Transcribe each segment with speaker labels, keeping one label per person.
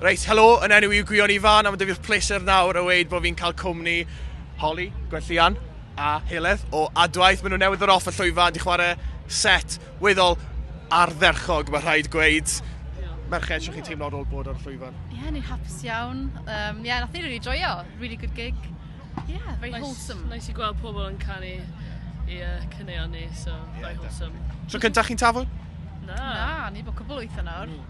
Speaker 1: Reit, helo, yn enw i'w gwion ifan, a mae dyfu'r pleser nawr o weid bod fi'n cael cwmni Holly, Gwenllian a Heledd o Adwaith. Maen nhw newydd ddod off y llwyfan, di chwarae set weddol ardderchog, mae rhaid gweud. Merched, sy'n chi'n teimlo ar ôl bod ar y llwyfan? Ie, yeah, ni'n hapus iawn.
Speaker 2: Um, yeah, nath ni really joio. Really good gig. Yeah, very nice, wholesome. Nice i gweld pobl yn
Speaker 3: canu i uh, cyneuon ni, so yeah, very wholesome. So cyntaf chi'n tafod?
Speaker 1: Na. Na, ni
Speaker 2: bod cwbl wyth yn awr. Mm.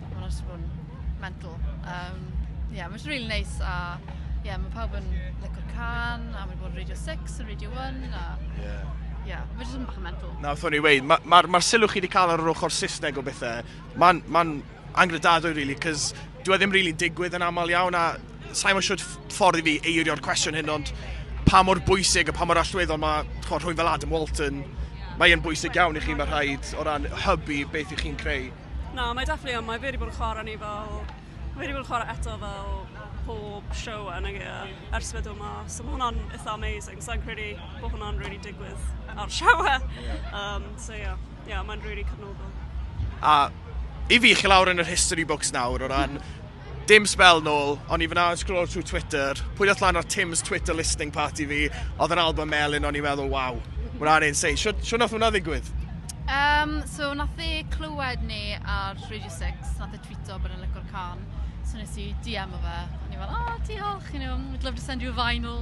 Speaker 2: Ma' wnna jyst 'di bod yn mental. Yym ie ma' jyst rili neis a ie ma' pawb yn lico'r cân a ma' 'di bod yn Radio Six a Radio One a Ie. ie ma' jyst yn bach yn mental. Na wrth o'n i weud ma'
Speaker 1: ma'r ma'r sylw chi 'di ca'l ar yr ochor Sysneg o bethe ma'n ma'n anghredadwy rili 'c'os dyw e ddim rili'n digwydd yn amal iawn a sai mo shwd ff- ffordd i fi eirio'r cwestiwn hyn ond pa mor bwysig a pa mor allweddol ma' t'mo' rhywun fel Adam Walton mae e'n bwysig iawn i chi ma' rhaid o ran hybu beth 'ych chi'n creu. Na mae definitely on'
Speaker 4: mae fe 'di bod yn chwara ni fel ma' fe 'di bod yn chwara eto fel pob show a nage a ers fe do' mas so ma' hwnna'n itha amazing sai'n credu bo' hwnna'n rili digwydd ar show e. Ie. Yym so ie. Ie mae'n rili cefnogol. A
Speaker 1: i fi chi lawr yn yr history books nawr o ran Dim sbel nôl, o'n i fyna yn scroll trwy Twitter, pwy ddoth lan ar Tim's Twitter listening party fi, oedd yn album Melin, o'n i'n meddwl, waw, hwnna'n insane. Sio, sio nath hwnna ddigwydd? Um, so,
Speaker 2: nath e clywed ni ar Radio 6, nath e tweeto bod yn lygo'r can. So nes i DM o fe, o'n i'n fel, oh, diolch, you know, we'd love to send you a vinyl.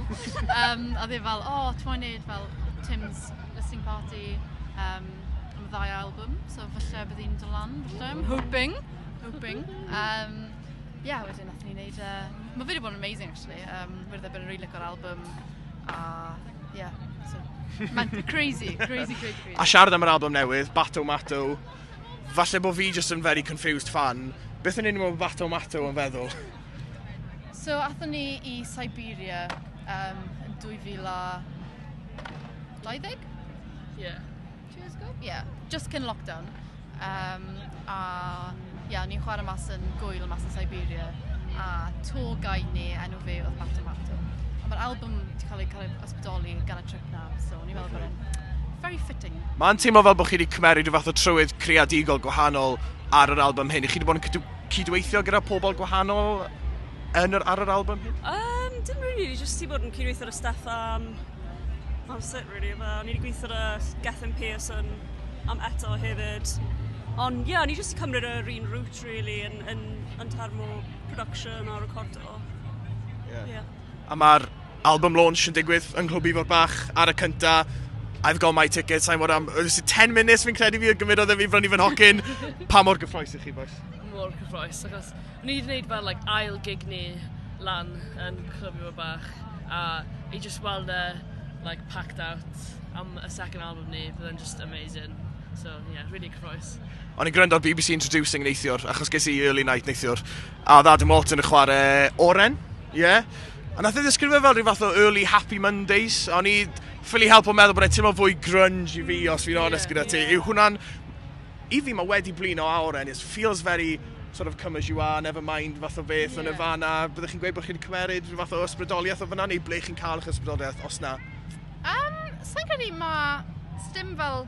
Speaker 2: um, a dde fel, oh, ti'n mwyn neud fel Tim's listening party um, am y ddau album, so falle bydd hi'n dod lan, falle, I'm hoping. Hoping. Um, yeah, wedyn nath ni wneud... Uh, mae fi wedi bod yn amazing, actually. Um, wedi bod yn rili really o'r album. A, yeah, so... Mae'n crazy, crazy, crazy, crazy. A siarad
Speaker 1: am yr album newydd, Bato Mato, falle bod fi just yn very confused fan. Beth yn union mae Bato Mato yn feddwl?
Speaker 2: So, athyn ni i Siberia um, yn 2020?
Speaker 3: Yeah. Two years ago?
Speaker 2: Yeah, just cyn lockdown. Um, a yeah, ni'n chwarae mas yn gwyl mas yn Siberia. A tour guide ni, enw fi oedd Martin Martin. A mae'r album wedi cael ei cael ei ysbrydoli gan y trip na, so ni'n meddwl bod e'n very fitting. Mae'n teimlo fel bod chi wedi
Speaker 1: cymeryd rhyw fath o trywydd creadigol gwahanol ar yr album hyn. I chi wedi bod yn cydweithio gyda pobl gwahanol yn yr, ar yr album hyn? Um, dim really,
Speaker 4: just ti bod yn cydweithio ar y staff am That was it really. Fel, o'n i wedi gweithio ar y Gethin Pearson am eto hefyd. Ond ie, yeah, o'n i jyst wedi cymryd yr un route really yn, yn, yn term o production a recordo. Yeah. yeah.
Speaker 1: A mae'r album launch yn digwydd yng Nghlwb Ifor Bach ar y cynta. I've got my ticket, sa'n mor am... Ys 10 munud fi'n credu fi o gymurodd e fi brynu fy nhocyn. pa mor gyffroes i chi, boes? Mor cyffroes,
Speaker 3: achos Ni 'di neud fel like ail gig ni lan yn Clwb Ifor Bach a i jyst weld e like packed out am y second album ni fydd e'n jyst amazing so ie rili cyffrous. O'n i'n gwrando ar bbc
Speaker 1: Introducing neithiwr achos ges i early night neithiwr a oedd Adam Walton yn chwarae Oren, ie? Yeah. A nath e ddisgrifio fel rhyw fath o early happy Mondays. A o'n i ffili helpu meddwl bod e'n teimlo fwy grunge i fi os fi'n onest gyda ti. Yw hwnna'n I fi ma' wedi blino a oren, it feels very sort of come as you are, never mind fath o beth o Nirvana, byddech chi'n gweud bod chi'n cymeryd rhyw fath o ysbrydoliaeth o fan'na neu ble chi'n cael eich ysbrydoliaeth os 'na? Yym
Speaker 2: sai'n credu ma'... sdim fel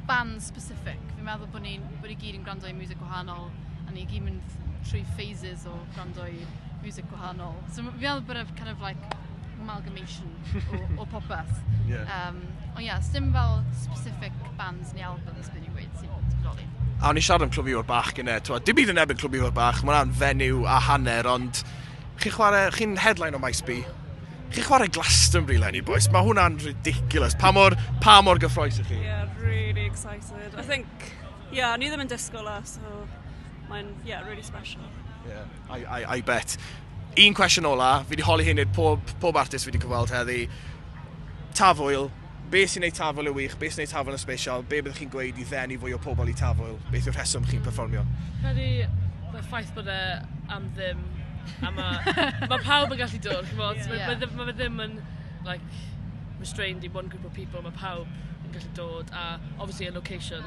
Speaker 2: band specific, fi'n meddwl bo' ni'n bo' ni gyd yn gwrando i miwsig gwahanol a ni gyd mynd trwy phases o gwrando i miwsig gwahanol so m- fi meddwl bod e kind of like amalgamation o, o popeth. Yeah. Um, ond ie, yeah, dim fel specific bands neu albums byd i'n gweud sy'n bodoli. A o'n i siarad am Clwb
Speaker 1: Ifor Bach gyda, twa, dim byd yn ebyn Clwb Ifor Bach, mae'n rhan fenyw a hanner, ond chi chwarae, chi'n headline o Maes B, chi chwarae Glastonbury lenni, boys, mae hwnna'n ridiculous. Pa mor, pa mor gyffroes ych chi? Yeah, really
Speaker 4: excited. I think, yeah, ni ddim yn disgwyl e, so mae'n, yeah, really special. Yeah. I, I,
Speaker 1: I bet. Un cwestiwn ola, fi wedi holi hyn i'r pob, pob artist fi wedi cyfweld heddi. Tafwyl, be sy'n neud tafwyl yn wych, be sy'n neud tafwyl yn special, be byddwch chi'n gweud i ddenu fwy o pobl i tafwyl, beth yw'r rheswm chi'n performio? Credu
Speaker 3: bod y ffaith bod e am ddim, a mae ma pawb yn gallu dod, chi'n bod, yeah. mae ma, ma fe ddim yn, like, restrained i one group of people, mae pawb yn gallu dod, a obviously a location,